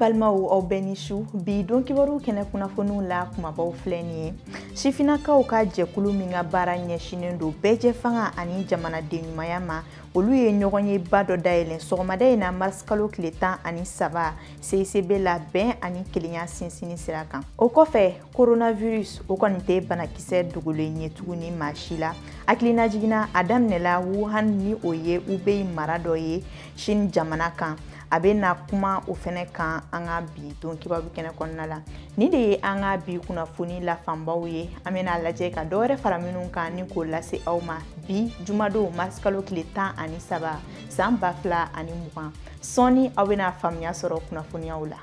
balimaw aw bɛɛ ni su bi don kibaru kɛnɛ kunnafoniw la kumabaw filɛ nin ye sifinakaw ka jɛkulu min ka baara ɲɛsinen don bɛɛjɛ fanga ani jamanaden ɲumanya ma olu ye ɲɔgɔnyeba dɔ dayɛlɛn sɔgɔmada in na marisikalo tile tan ani saba CICB la bɛn ani kelenya sinsinni sira kan o kɔfɛ coronavirus o kɔni tɛ banakisɛ dogolen ye tuguni maa si la hakilinajigin na a daminɛla wuhan ni o ye hubei mara dɔ ye chine jamana kan an bɛna kuma o fɛnɛ kan an ka bi don kibaru kɛnɛ kɔnɔna la nin de ye an ka bi kunnafoni la fanbaw ye an bɛna lajɛ ka dɔ wɛrɛ fara minnu kan ni k'o lase aw ma bi jumadon marsikalo tile tan ani saba san ba fila ani mugan sɔɔni aw bɛna faamuya sɔrɔ kunnafoniyaw la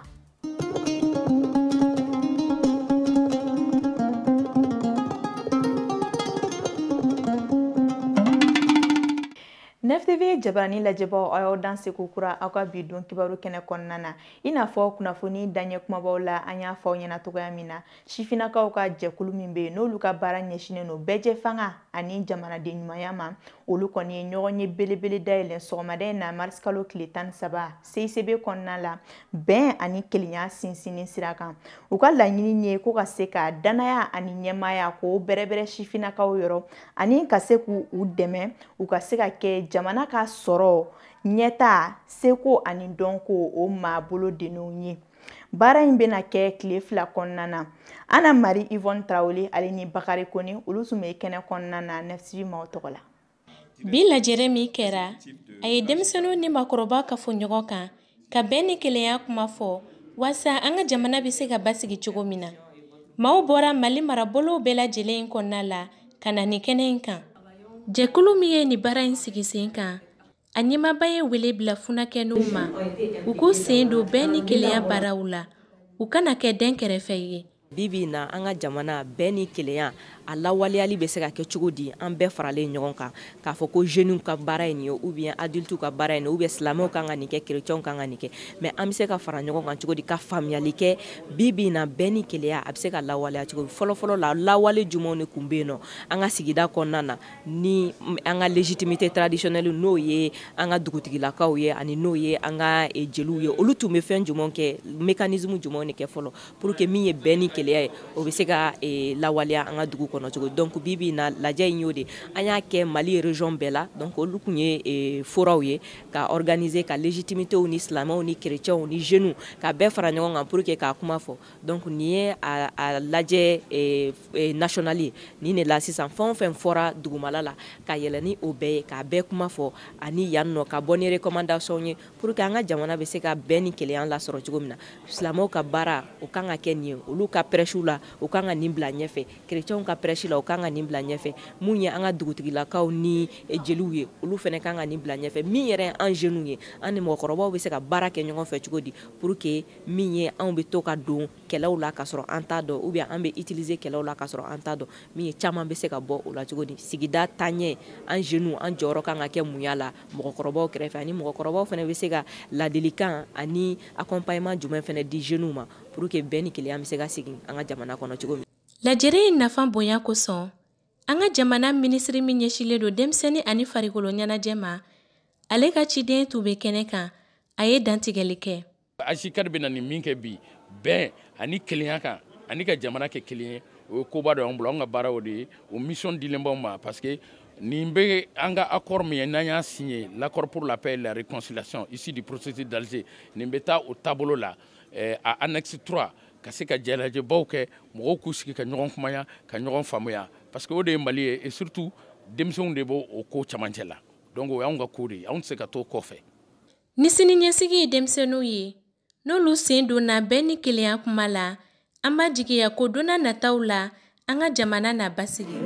nftv jabarani lajɛbaaw aw y'aw danse kokura aw ka bi don kibaru kɛnɛ kɔnɔna na i n'a fɔ kunnafoni daɲɛ kumabaw la an y'a fɔ aw ɲɛna cogoya min na sifinnakaw ka jɛkulu min bɛ yen n'olu ka baara ɲɛsinnen don bɛɛjɛ fanga ani jamanaden ɲumanya ma olu kɔni ye ɲɔgɔnye belebele dayɛlɛ sɔgɔmada in na marisi kalo tile tan ni saba CICB kɔnɔna la bɛn ani kelenya sinsinni sira kan u ka laɲini ye ko ka se ka dannaya ani ɲɛmaaya k'o bɛrɛbɛrɛ sifinnakaw yɔrɔ ani ka se k'u dɛmɛ u ka se ka kɛ jamana ka sɔrɔ ɲɛta seko ani dɔnko o maabolo denw ye baara in bɛna kɛ tile fila kɔnɔna na ana mari ivɔn tarawele ale ni bakari kone olu tun bɛ kɛnɛ kɔnɔna na nftv maaw tɔgɔ la bi lajɛrɛ min kɛra a ye denmisɛnninw ni maakɔrɔba kafo ɲɔgɔn kan ka bɛn ni kelenya kuma fɔ waasa an ka jamana bɛ se ka basigi cogo min na maaw bɔra mali marabolow bɛɛ lajɛlen in kɔnɔna la ka na nin kɛnɛ in kan jɛkulu min ye nin baara in sigi sen kan A ɲɛmaaba ye wele bila funakɛninw ma u k'u sen don bɛn ni kelenya baaraw la u kana kɛ dɛnkɛrɛfɛ ye bi bi na an ka jamana bɛn ni kelenya a lawaleyali bɛ se ka kɛ cogo di an bɛɛ faralen ɲɔgɔn kan k'a fɔ ko jeunes ka baara ye nin ye ou bien adultes ka baara ye nin ye ou bien silamɛw kan ka nin kɛ chrétiens kan ka nin kɛ mais an bɛ se ka fara ɲɔgɔn kan cogo di ka faamuyali kɛ bi bi na bɛn ni kelenya a bɛ se ka lawaleya cogo di fɔlɔfɔlɔ la lawale jumɛnw de tun bɛ yen nɔ an ka sigida kɔnɔna na ni an ka légitimité traditionnelle n'o ye an ka dugutigilakaw ye ani n'o ye an ka e, jeliw ye olu tun bɛ fɛn jumɛn kɛ mécanisme jumɛn de kɛ fɔlɔ pour que min ye bɛn ni kelenya ye o bɛ se ka e, lawaleya an ka dugu kɔnɔ cogo donc bi bi in na lajɛ in y'o de an y'a kɛ Mali région bɛɛ la donc olu kun ye e, foraw ye ka organiser ka légitimitéw ni silamɛw ni chrétiens ni jeunes ka bɛɛ fara ɲɔgɔn kan pour que k'a kuma fɔ donc nin ye a lajɛ eh, eh, national ye nin de la sisan fɛn o fɛn fɔra dugumala la ka yɛlɛ ni o bɛɛ ye k'a bɛɛ kuma fɔ ani yan nɔ ka bɔ ni recommandation ye pour que an ka jamana bɛ se ka bɛn ni kelenya lasɔrɔ cogo min na silamɛw ka baara o kan ka kɛ nin ye olu ka prêche la u kan ka nin bila ɲɛfɛ chrétienw ka prêche la u kan ka nin bila ɲɛfɛ mun ye an ka dugutigilakaw ni eh, jeliw ye olu fɛnɛ kan ka nin bila ɲɛfɛ min yɛrɛ an jeunes ye an ni mɔgɔkɔrɔbaw bɛ se ka baara kɛ ɲɔgɔn fɛ cogo di pour que min ye anw bɛ to ka don kɛlɛw la ka sɔrɔ an t'a dɔn ou bien an bɛ utiliser kɛlɛw la ka sɔrɔ an t'a dɔn min ye caman bɛ se ka bɔ o la cogo di sigida taɲɛ an jeunes an jɔyɔrɔ kan ka kɛ mun y'a la mɔgɔkɔrɔbaw kɛrɛfɛ ani mɔgɔkɔrɔbaw fɛnɛ bɛ se ka ladilikan ani accompagnement jumɛn fɛnɛ di jeunes ma pour que bɛn ni kelenya bɛ se ka sigi an ka jamana kɔnɔ cogo min lajɛrɛ in nafa bonya kosɔn an ka jamana minisiri min ɲɛsinlen don denmisɛnnin ani farikolo ɲɛnajɛ ma ale ka ciden tun bɛ kɛnɛ kan a ye dantigɛli kɛ AJCAD bɛna nin min kɛ bi bɛn ani kelenya kan ani ka jamana kɛ kelen ye o ye koba dɔ y'an bolo an ka baara o de ye o mission dilen b'anw ma parce que nin bɛ an ka accord min ye n'an y'a signé l'accord pour la paix et la réconciliation issu du processus d'Alger nin bɛ taa o taabolo la eh, a annexe 3 ka se ka jɛlajɛbaw kɛ mɔgɔw k'u sigi ka ɲɔgɔn kumaya ka ɲɔgɔn faamuya parce que o de ye Mali ye et surtout denmisɛnw de b'o o ko camancɛ la donc o y'anw ka ko de ye anw tɛ se ka t'o kɔfɛ Ni sini ɲɛsigi ye denmisɛnninw ye, n'olu sen donna bɛn ni kelenya kuma la, an b'a jigiya ko don nataw la, an ka jamana na basigi.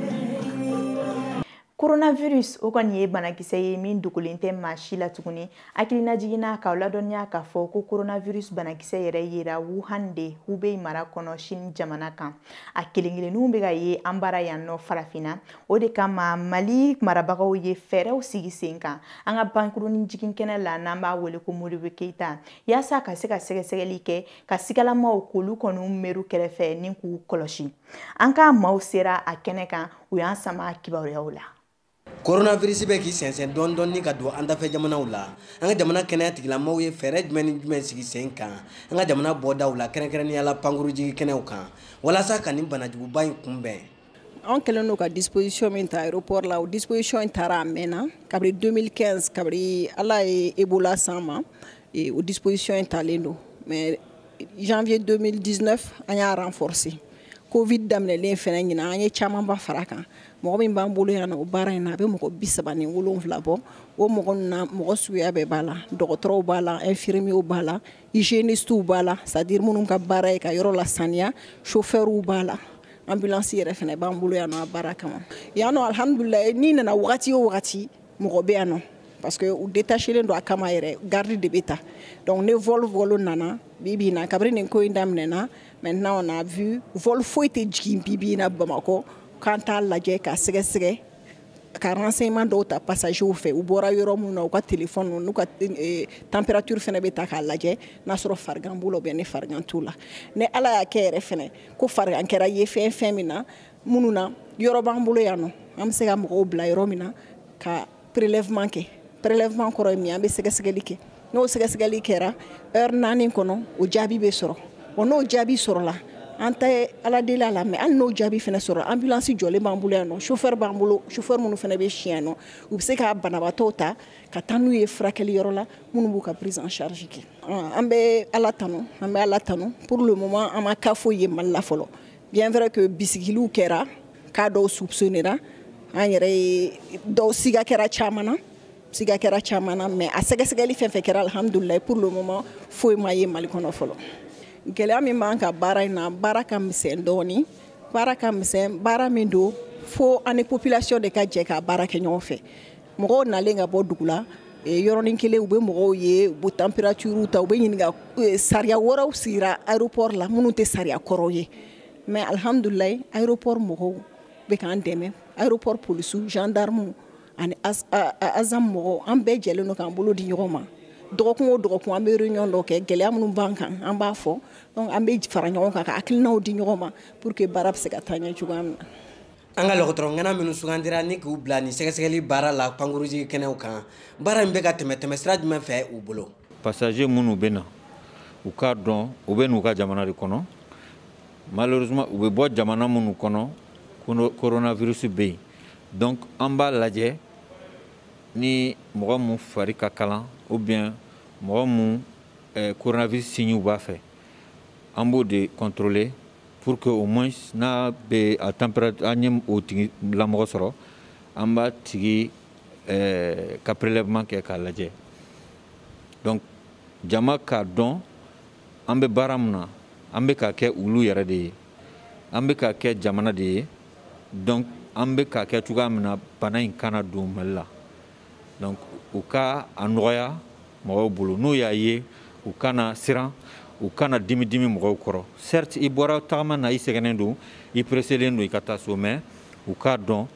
Coronavirus o kɔni ye banakisɛ ye min dogolen tɛ maa si la tuguni. Hakilinajigin na k'aw ladɔnniya k'a fɔ ko coronavirus banakisɛ yɛrɛ yera Wuhan de, Hubei mara kɔnɔ Chine jamana kan. A kelen-kelenninw bɛ ka ye an bara yan nɔ farafinna. o de kama Mali marabagaw ye fɛɛrɛw sigi sen kan an ka pankurunin jigin kɛnɛ la n'an b'a wele ko Modibo Keita yaasa ka se ka sɛgɛsɛgɛli kɛ ka sigalamaw k'olu kɔni meru kɛrɛfɛ ni k'u kɔlɔsi an ka maaw sera a kɛnɛ kan u y'an sama kibaruyaw la koronavirisi bɛ k'i sɛnsɛn dɔɔni dɔɔni ka don an dafɛ jamanaw la an ka jamana kɛnɛya tigilamaw ye fɛɛrɛ jumɛn ni jumɛn sigi sen kan an ka jamana bɔdaw la kɛrɛnkɛrɛnnenya la pankurun jigin kɛnɛw kan walasa ka nin banajuguba in kunbɛn an kɛlen don ka disposition min ta aéroport la o disposition in tara a mɛnna kabiri 2015 kabiri ala ye ebola san ma e, o disposition in talen don mais janvier 2019 an y'a renforcer covid daminɛlen fɛnɛ ɲinan an ye camanba fara a kan mɔgɔ min b'an bolo yan nɔ o baara in na a bɛ mɔgɔ bi saba ni wolonfila bɔ o mɔgɔ ninnu na mɔgɔ suguya bɛɛ b'a la dɔgɔtɔrɔw b'a la infirmiyew b'a la hygiénistes b'a la c'est à dire minnu ka baara ye ka yɔrɔ lasaniya chauffeurs b'a la ambulance yɛrɛ fɛnɛ b'an bolo yan nɔ a baara kama yan nɔ alhamdulilayi n'i nana wagati o wagati mɔgɔ bɛ yan nɔ parce que u détachelen don a kama yɛrɛ garde de bɛ ta donc ni vol vol nana bi bi in na kabiri nin ko in daminɛna maintenant on a vu vol foyi tɛ jigin bi bi in na bamakɔ k'an t'a lajɛ k'a sɛgɛsɛgɛ ka renseignement dɔw ta passagers fɛ u bɔra yɔrɔ minnu na u ka téléphone n'u ka eh, température fɛnɛ bɛ ta k'a lajɛ n'a sɔrɔ farigan b'u la ou bien ni farigan t'u la ni Ala y'a kɛ yɛrɛ fɛnɛ ko farigan kɛra ye fɛn fɛn min na minnu na yɔrɔ b'an bolo yan nɔ an bɛ se ka mɔgɔw bila yɔrɔ min na ka prélèvement kɛ prélèvement kɔrɔ ye min ye an bɛ sɛgɛsɛgɛli kɛ n'o sɛgɛsɛgɛli kɛra heure naani kɔnɔ o jaabi bɛ sɔrɔ wa n'o jaabi sɔrɔla an tɛ ala deli a la mais hali n'o jaabi fɛnɛ sɔrɔ ambulance jɔlen b'an bolo yan nɔ chauffeur b'an bolo chauffeur minnu fɛnɛ bɛ si yan nɔ u bɛ se ka banabaatɔw ta ka taa n'u ye furakɛli yɔrɔ la minnu b'u ka prise en charge kɛ an bɛ ala tanu an bɛ ala tanu pour le moment an ma cas foyi ye mali la fɔlɔ bien vrai que bisigiliw kɛra cas dɔw soupçonnera an yɛrɛ ye dɔw siga kɛra caman na siga kɛra caman na mais a sɛgɛsɛgɛli fɛn fɛn kɛra alhamdulilayi pour le moment foyi ma ye mali kɔnɔ fɔlɔ gɛlɛya min b'an ka baara in na baara ka misɛn dɔɔni baara ka misɛn baara min don fo an ni population de ka jɛ ka baara kɛ ɲɔgɔn fɛ mɔgɔw nalen ka bɔ dugu la eh, yɔrɔnin kelen u bɛ mɔgɔw ye u bɛ température ta u bɛ ɲininka eh, sariya wɛrɛw sigira aéroport la minnu tɛ sariya kɔrɔw ye mais alhamdulilayi aéroport mɔgɔw bɛ k'an dɛmɛ aéroport polisiw gendarmes ani asam mɔgɔw an bɛɛ jɛlen don k'an bolo di ɲɔgɔn ma dɔgɔkun o dɔgɔkun an bɛ réunion dɔ kɛ gɛlɛya minnu b'an kan an b'a fɔ donc an bɛ fara ɲɔgɔn kan ka hakilinaw di ɲɔgɔn ma pour que baara bɛ se ka taa ɲɛ cogoya min na an ka dɔgɔtɔrɔ ŋana minnu sugandira ni k'u bila nin sɛgɛsɛgɛli baara la pankurunjiginkɛnɛw kan baara in bɛ ka tɛmɛ tɛmɛsira jumɛn fɛ u bolo passager minnu bɛ na u k'a dɔn u bɛ n'u ka jamana de kɔnɔ malheureusement u bɛ bɔ jamana minnu kɔnɔ coronavirus bɛ yen donc an b'a lajɛ ni mɔgɔ mun fari ka kalan ou bien mɔgɔ mun eh, coronavirus signew b'a fɛ an b'o de contrôler pour que au moins n'a bɛ a température an ye o tigilamɔgɔ sɔrɔ an b'a tigi eh, ka prélèvement kɛ k'a lajɛ donc jama k'a dɔn an bɛ baara min na an bɛ k'a kɛ olu yɛrɛ de ye an bɛ k'a kɛ jamana de ye donc an bɛ k'a kɛ cogoya min na bana in kana don mali la donc u ka a nɔgɔya mɔgɔw bolo n'u y'a ye u kana siran u kana dimi dimi mɔgɔw kɔrɔ certes i bɔra tagama na i sɛgɛnnen don i presselen don i ka taa so mais u k'a dɔn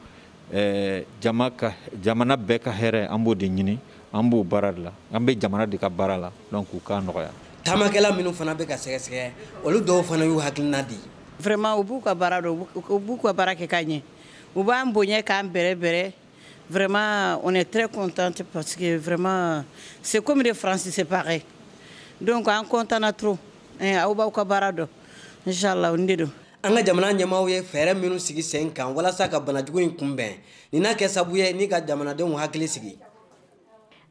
eh, jama ka jamana bɛɛ ka hɛrɛ an b'o de ɲini an b'o baara de la an bɛ jamana de ka baara la donc u k'a nɔgɔya taamakɛla minnu fana bɛ ka sɛgɛsɛgɛ olu dɔw fana y'u hakilina di vraiment u b'u ka baara dɔn u b'u ka baara kɛ ka ɲɛ u b'an bonya k'an bɛrɛ bɛrɛ vraiment on est très contente parce que vraiment c'est comme les français c'est pareil donc an contana trop eh, aw b'aw ka baara dɔn inchallah o ni de don an ka jamana ɲɛmaaw ye fɛɛrɛ minnu sigi sen kan walasa ka banajugu in kunbɛn nin na kɛ sabu ye ni ka jamanadenw hakili sigi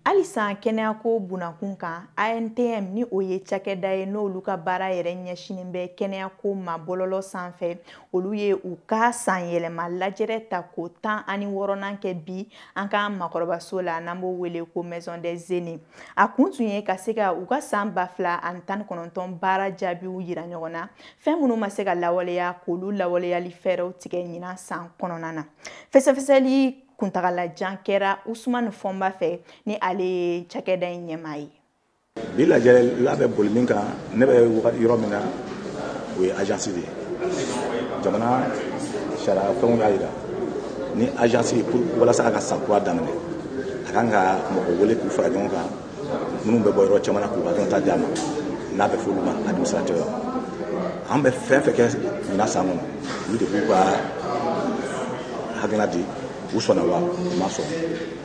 halisa kɛnɛyako bunakun kan antm ni o ye cakɛda ye n'olu ka baara yɛrɛ ɲɛsinin bɛ kɛnɛyako ma bɔlɔlɔ sanfɛ olu ye u ka sanyɛlɛma lajɛrɛ tako tan ani wɔɔrɔnan kɛ bi an ka makɔrɔbaso la n'an b'o wele ko maison des aînés a kun tun ye ka se ka u ka san ba fila ani tan ni kɔnɔntɔn baara jaabiw yira ɲɔgɔn na fɛn minnu ma se ka lawaleya k'olu lawaleyali fɛɛrɛw tigɛ ɲinan san kɔnɔna na fɛsɛfɛsɛli kuntagalajan kɛra usumani fɔnba fɛ ni ale ye cakɛda in ɲɛmaa ye bi lajɛrɛ bɛ boli min kan ne bɛ yɔrɔ min na o ye agence de ye jamana sariya fɛnw y'a jira ni agence pour walasa a ka san kura daminɛ a kan ka mɔgɔ wele k'u fara ɲɔgɔn kan minnu bɛ bɔ yɔrɔ caman na k'u ka dɔnta di a ma n'a bɛ f'olu ma administrateur an bɛ fɛn fɛn kɛ ɲinan san kɔnɔ olu de b'u ka hakilina di u sɔnna wa u ma sɔn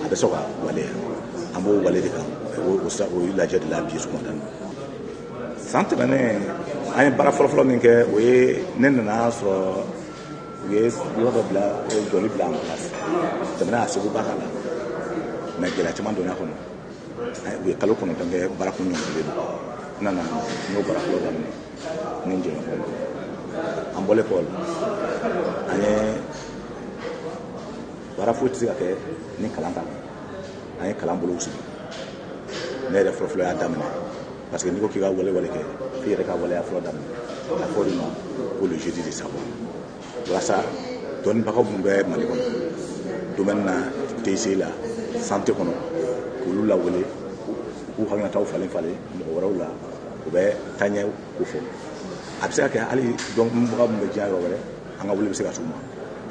a bɛ se ka waleya an b'o wale de kan o ye lajɛ de la bi sɔgɔmada in san tɛmɛnen an ye baara fɔlɔfɔlɔ min kɛ o ye ne nana sɔrɔ u ye yɔrɔ dɔ bila jɔli bila en cours jamana y'a seko ba k'a la mais gɛlɛya caman donn'a kɔnɔ u ye kalo kɔnɔntɔn kɛ baara kun jɔlen don n nana n y'o baara fɔlɔ daminɛ ni n jɛɲɔgɔnw an bɔlen kɔ la an ye baara foyi tɛ se ka kɛ ni kalan t'a la an ye kalan bolow sigi ne yɛrɛ fɔlɔfɔlɔ y'a daminɛ parce que n'i ko k'i ka walewale kɛ f'i yɛrɛ ka waleya fɔlɔ daminɛ a fɔ de ma ko le jeudi de savoir walasa dɔnnibaga minnu bɛ mali kɔnɔ domaine na tic la santé kɔnɔ k'olu lawele k'u hakilinataw falen falen mɔgɔ wɛrɛw la u bɛ taɲɛ ko fɔ a bɛ se ka kɛ hali dɔnbaga minnu bɛ diɲɛ yɔrɔ wɛrɛ an ka wele bɛ se ka s'u ma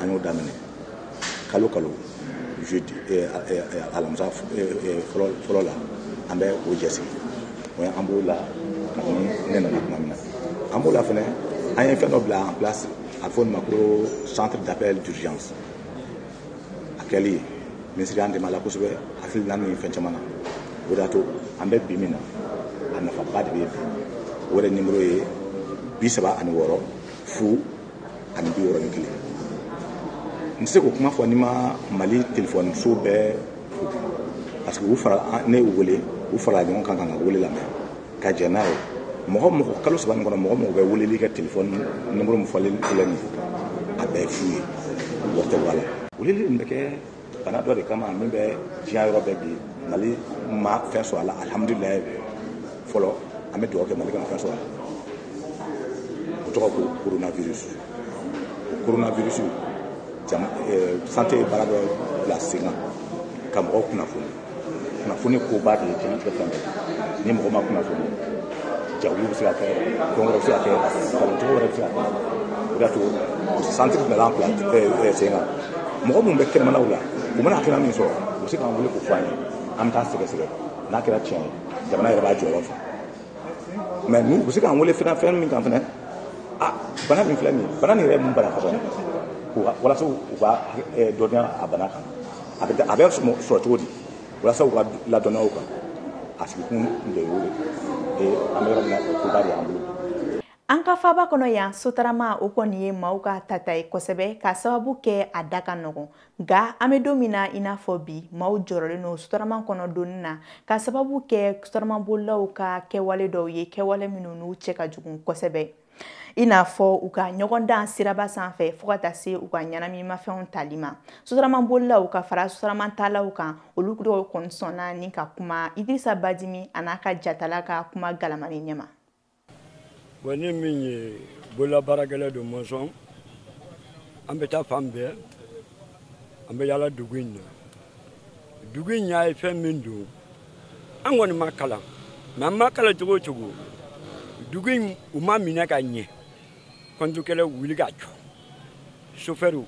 an y'o daminɛ kalo kalo jeudi eh, eh, eh, alamisa fɔlɔ la an bɛ o jɛsigi o ye an b'o la kabini ne nana tuma min na an b'o la fɛnɛ an ye fɛn dɔ bila en place a bɛ fɔ nin ma ko centre d'appel d'urgence a kɛli minisiri y'an dɛmɛ a la kosɛbɛ hakilina ni fɛn caman na o de y'a to an bɛ bi min na a nafaba de bɛ bi o yɛrɛ nimoro ye bi saba ani wɔɔrɔ fu ani bi wɔɔrɔ ni kelen n tɛ se k'o kuma fɔ ni n ma mali telefɔniso bɛɛ fo parce que u fara ne y'u wele u farala ɲɔgɔn kan ka n ka wele lamɛn ka jɛn n'a ye mɔgɔ mɔgɔ kalo saba nin kɔnɔ mɔgɔ o mɔgɔ bɛ weleli kɛ telefɔni nimoro min fɔlen filɛ nin ye a bɛɛ ye fu ye wari tɛ bɔ a la weleli nin bɛ kɛ bana dɔ de kama min bɛ diɲɛ yɔrɔ bɛɛ bi mali ma fɛn sɔrɔ a la alihamudulilayi fɔlɔ an bɛ dugawu kɛ mali kana fɛn sɔrɔ a la o tɔgɔ ko coronavirus o coronavirus kama santé ye baara dɔ bila sen kan ka mɔgɔw kunnafoni kunnafoni koba de ye diɲɛnatigɛ fɛn bɛɛ ni mɔgɔ ma kunnafoni jawuli bɛ se ka kɛ fɛn wɛrɛ bɛ se ka kɛ kalancogo wɛrɛ bɛ se ka kɛ o de y'a to santiri bɛɛ b'an bila sen kan mɔgɔ minnu bɛ kɛnɛmanaw la u mana kɛnɛ min sɔrɔ u bɛ se k'an wele k'o fɔ an ye an bɛ taa sɛgɛsɛgɛ n'a kɛra tiɲɛ ye jamana yɛrɛ b'a jɔyɔrɔ fa mɛ n'u u bɛ se k'an wele fɛn fɛn min kan fɛnɛ a bana min filɛ nin ye bana nin yɛrɛ ye mun bana fɔlɔ walasa u ka dɔnniya a bana kan a bɛ a bɛ sɔrɔ cogo di walasa u ka ladɔnniya o kan a sigikun de y'o ye an bɛ yɔrɔ min na koba de y'an bolo an ka faaba kɔnɔ yan sotarama o kɔni ye maaw ka tata ye kosɛbɛ ka sababu kɛ a da ka nɔgɔn nka an bɛ don min na i n'a fɔ bi maaw jɔrɔlen don sotarama kɔnɔ donni na ka sababu kɛ sotaramabolilaw ka kɛwale dɔw ye kɛwale minnu n'u cɛ ka jugun kosɛbɛ i n'a fɔ u ka ɲɔgɔndan siraba sanfɛ fɔɔ ka taa se u ka ɲɛnaminimafɛnw tali ma sotaramabolilaw ka fara sotaramatalaw kan olu dɔw kɔni sɔnna ni ka kuma idirisa badimi an'a ka jatala ka kuma galamani ɲɛma bɔn ni min ye bololabaarakɛla don mɔnsɔn an bɛ taa fan bɛɛ an bɛ yaala dugu in na dugu in y'a ye fɛn min don an kɔni ma kalan mɛ an ma kalan cogo o cogo dugu in o ma minɛ ka ɲɛ kɔntukɛlɛ wuli ka jɔ sofɛriw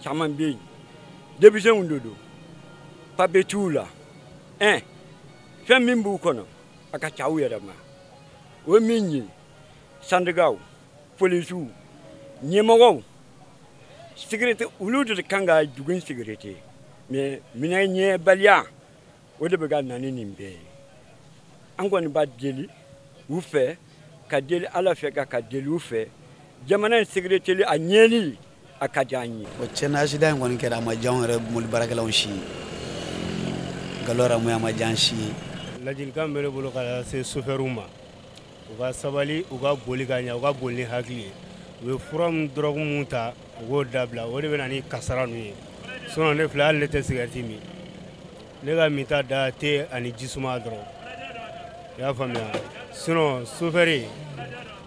caman bɛ yen denmisɛnw de don papiye t'u la ɛn fɛn min b'u kɔnɔ a ka ca u yɛrɛ ma o ye min ye sandikaw polisiw ɲɛmɔgɔw sigirete olu de ka kan ka dugu in sigirete ma minɛ ɲɛbaliya o de bɛ ka na ni nin bɛɛ ye an kɔni b'a deli u fɛ ka deli ala fɛ ka ka deli u fɛ jamana in sekirite a ɲɛli a ka di an ye o tiɲɛ na asidan in kɔni kɛra a ma diya anw yɛrɛ mobili baarakɛlaw si ye nkalon yɛrɛ a ma diya an si ye ladilikan bɛ ne bolo ka se sofɛriw ma u ka sabali u ka boli ka ɲa u ka boli ni hakili ye u ye fura min dɔrɔgu minnu ta u k'o dabila o de bɛ na ni kasara ninnu ye sinɔn ne filɛ hali ne tɛ sigɛriti min ne ka minta dan te ani jisuma dɔrɔn i y'a faamuya sinɔn sofɛri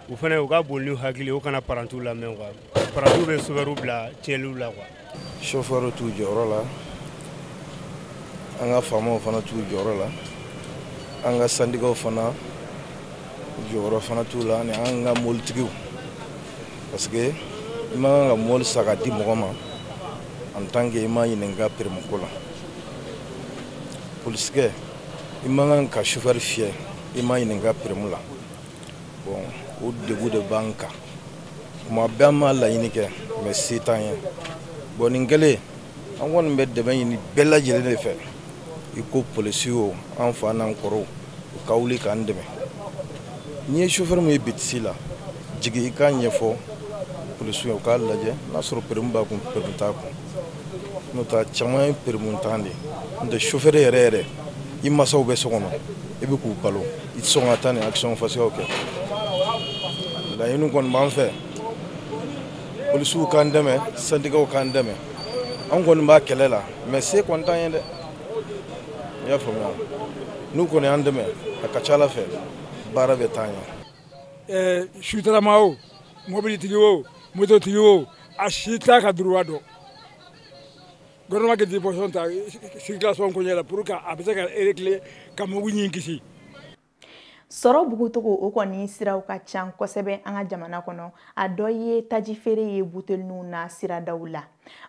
u fana u ka boli ni hakili ye u kana parantiw lamɛn kuwa parantiw bɛ sofɛriw bila tiɲɛliw la kuwa chauffeur t'u jɔyɔrɔ la an ka faamaw fana t'u jɔyɔrɔ la an ka sandikaw fana jɔyɔrɔ fana t'u la ani an ka mɔbilitigiw parce que i man kan ka mɔbili san ka di mɔgɔ ma en tant que i ma ɲininka peremu ko la polisikɛ i man kan ka chauffeur fiyɛ i ma ɲininka peremu la bon o degun de b'an kan kuma bɛɛ an b'a laɲini kɛ mɛ se t'an ye bɔn nin kɛlen an kɔni bɛ dɛmɛ ɲini bɛɛ lajɛlen de fɛ i ko polisi o an fa n'an kɔrɔw u ka wuli k'an dɛmɛ n'i ye sofɛri min ye bitisi la jigin i k'a ɲɛfɔ polisiw ye u k'a lajɛ n'a sɔrɔ peremu b'a kun peremu t'a kun n'o tɛ caman ye peremuntan de ye n'o tɛ sofɛri yɛrɛ yɛrɛ i masaw bɛ so kɔnɔ i bɛ k'u balo i tɛ sɔn ka taa nin action fasiyaw kɛ laɲini kɔni b'an fɛ polisiw k'an dɛmɛ sandikaw k'an dɛmɛ an kɔni b'a kɛlɛ la mɛ se kɔni t'an ye dɛ i y'a faamuya n'u kɔni y'an dɛmɛ a ka ca ala fɛ baara bɛ taa ɲɛ eh, sotarama o mobilitigi o mototigi o a si t'a ka duruwa dɔn gouvernement ka disposition ta circulation koɲɛ la pour que a bɛ se ka régler ka mɔgɔw nin kisi sɔrɔ bugucogo o kɔni siraw ka can kosɛbɛ an ka jamana kɔnɔ a dɔ ye taji feere ye buteliniw na siradaw la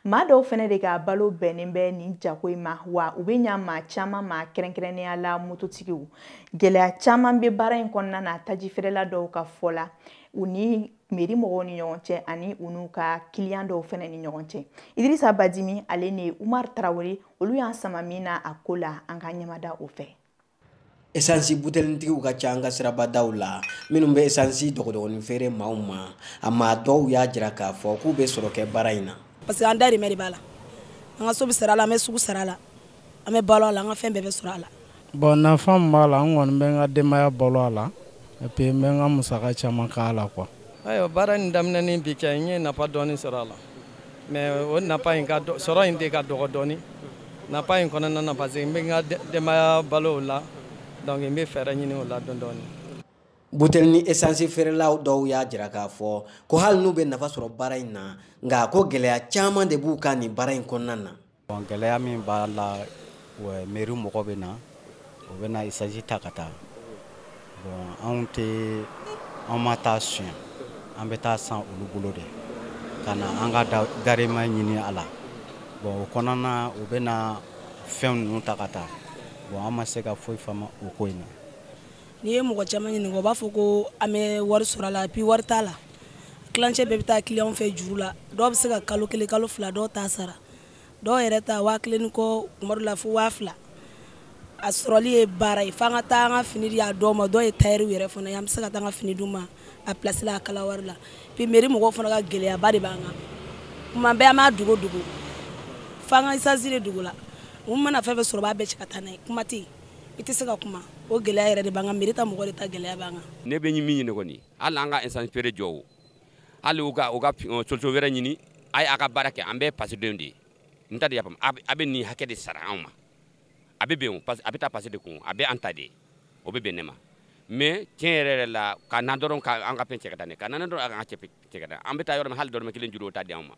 maa dɔw fɛnɛ de ka balo bɛnnen bɛ nin jako in ma wa u be ɲa maa caaman ma kɛrɛnkɛrɛnnenya la mototigiw gwɛlɛya caaman be baara in kɔnɔna na taji feerela dɔw ka fɔ la u ni meri mɔgɔw ni ɲɔgɔn cɛ ani u n'u ka kiliyan dɔw fɛnɛ ni ɲɔgɔn cɛ idirisa badimi ale ni umar tarawele olu y'an sama min na a ko la an ka ɲɛmada o fɛ esansi butelinitigiw ka ca an ka sirabadaw la minnu bɛ esansi dɔgɔdɔgɔnin feere maaw ma a maa dɔw y'a jira k'a fɔ k'u bɛ sɔrɔ kɛ baara in na parce que an dahirimɛ de b'a la an ka so bɛ sara a la an bɛ sugu sara a la an bɛ balo a la an ka fɛn bɛɛ bɛ sɔrɔ a la bon nafa min b'a la n kɔni bɛ n ka denbaya balo a la et puis n bɛ n ka musaka caman k'a la quoi ayiwa baara nin daminɛ ni bi cɛ n ye nafa dɔɔni sɔrɔ a la mais o nafa in ka sɔrɔ in de ka dɔgɔ dɔɔni nafa in kɔnɔna na parce que n bɛ n ka denbaya balo o la donc n bɛ fɛɛrɛ ɲini o la dɔɔni dɔɔni butelinin esansi feerelaw dɔw y'a jira k'a fɔ ko hali n'u bɛ nafa sɔrɔ baara in na nka ko gɛlɛya caman de b'u kan nin baara in kɔnɔna na Bon, gɛlɛya min b'a la ouais, mairie mɔgɔ bɛ na o bɛ na esansi ta ka taa bon anw tɛ an ma taa suɲɛ an bɛ taa san olu bolo de ka na an ka dahirimɛ ɲini a la bon o kɔnɔna na u bɛ na fɛn ninnu ta ka taa bon an ma se ka foyi faamu o ko in na n'i ye mɔgɔ caman ɲininka o b'a fɔ ko an bɛ wari sɔrɔ a la puis wari t'a la tilancɛ bɛɛ bɛ taa kiliyanw fɛ juru la dɔw bɛ se ka kalo kelen kalo fila dɔw t'a sara dɔw yɛrɛ ta waa kelen ni kɔ kuma dɔ la fo waa fila a sɔrɔli ye baara ye f'an ka taa an ka fini di a dɔw ma dɔw ye tayɛriw yɛrɛ fana ye an bɛ se ka taa an ka fini d'u ma a pilasi la a kala wari la puis meri mɔgɔw fana ka gɛlɛyaba de b'an kan kuma bɛɛ an b'a dogo dogo f'an ka isansi de dogo la u mana fɛn fɛn sɔrɔ u b'a bɛɛ cɛ ka taa n'a ye kuma tɛ yen i tɛ se ka kuma o gɛlɛya yɛrɛ de b'an kan meri ta mɔgɔ de ta gɛlɛya b'an kan ne bɛ min ɲini kɔni hali an ka isansi feere jɔ o hali u ka u ka solution wɛrɛ ɲini a ye a ka baara kɛ an bɛɛ fasodenw de ye n ta de y'a faamu a bɛ nin hakɛ de sara anw ma a bɛ bɛn o a bɛ taa faso de kun a bɛɛ an ta de ye o bɛ bɛn ne ma mais tiɲɛ yɛrɛ yɛrɛ la ka na dɔrɔn ka an ka fɛn cɛ ka taa n'a ye ka na dɔrɔn an ka cɛ ka taa an bɛ taa yɔrɔ min hali dɔrɔmɛ kelen juru o t'a di anw ma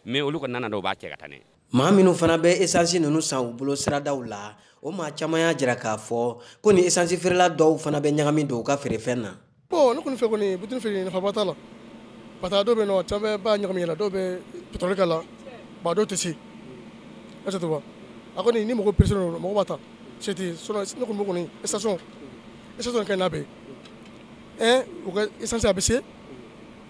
mais olu kɔni nana dɔw b'a cɛ ka taa n'a ye maa minnu fana bɛ esansi ninnu san u bolo siradaw la o maa caman y'a jira k'a fɔ ko nin esansi feerela dɔw fana bɛ ɲagami don u ka feerefɛn na bon ne kɔni fɛ kɔni butelinin feere nafaba t'a la parce que a dɔw bɛ yen mɔgɔ caman b'a ɲagami ji la dɔw bɛ pétrole k'a la ba dɔw tɛ se est ce que tu vois a kɔni ni mɔgɔ pressé don mɔgɔ b'a ta se tɛ sinon ne kɔni fɛ kɔni station ka ɲi n'a bɛɛ ye ɛɛ u ka esansi a bɛ se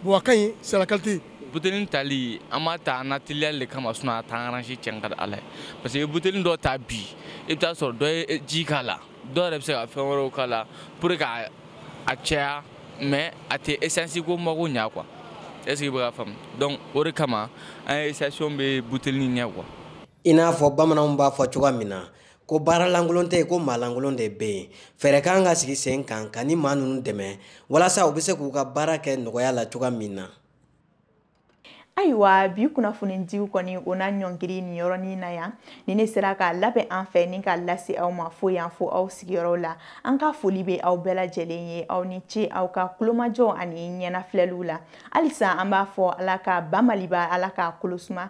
bon a ka ɲi c'est la qualité butelin tali an b'a ta an na teliya le kama sinon a t'an aranze cɛn ka di ala ye parce que i bɛ butelin dɔ ta bi i bɛ taa sɔrɔ dɔ ye ji k'a la dɔw yɛrɛ bɛ se ka fɛn wɛrɛw k'a la pour que k'a caya mais a tɛ esansi ko mago ɲa quoi est ce que i bɛ k'a faamu donc o de kama an ye station bɛ butelin ɲɛ quoi i n'a fɔ bamananw b'a fɔ cogoya min na ko baara lankolon tɛ yen ko maa lankolon de bɛ yen fɛɛrɛ ka kan ka sigi sen kan ka nin maa ninnu dɛmɛ walasa u bɛ se k'u ka baara kɛ nɔgɔya la cogoya min na ayiwa bi kunnafonidiw kɔni o na ɲɔngiri nin yɔrɔnin na yan ni ne sera k'a labɛn an fɛ ni k'a lase aw ma fo yan fo aw sigiyɔrɔw la an ka foli bɛ aw bɛɛ lajɛlen ye aw ni ce aw ka tulomajɔ ani ɲɛnafilɛliw la halisa an b'a fɔ ala ka ba maliba ala k'a kolosuma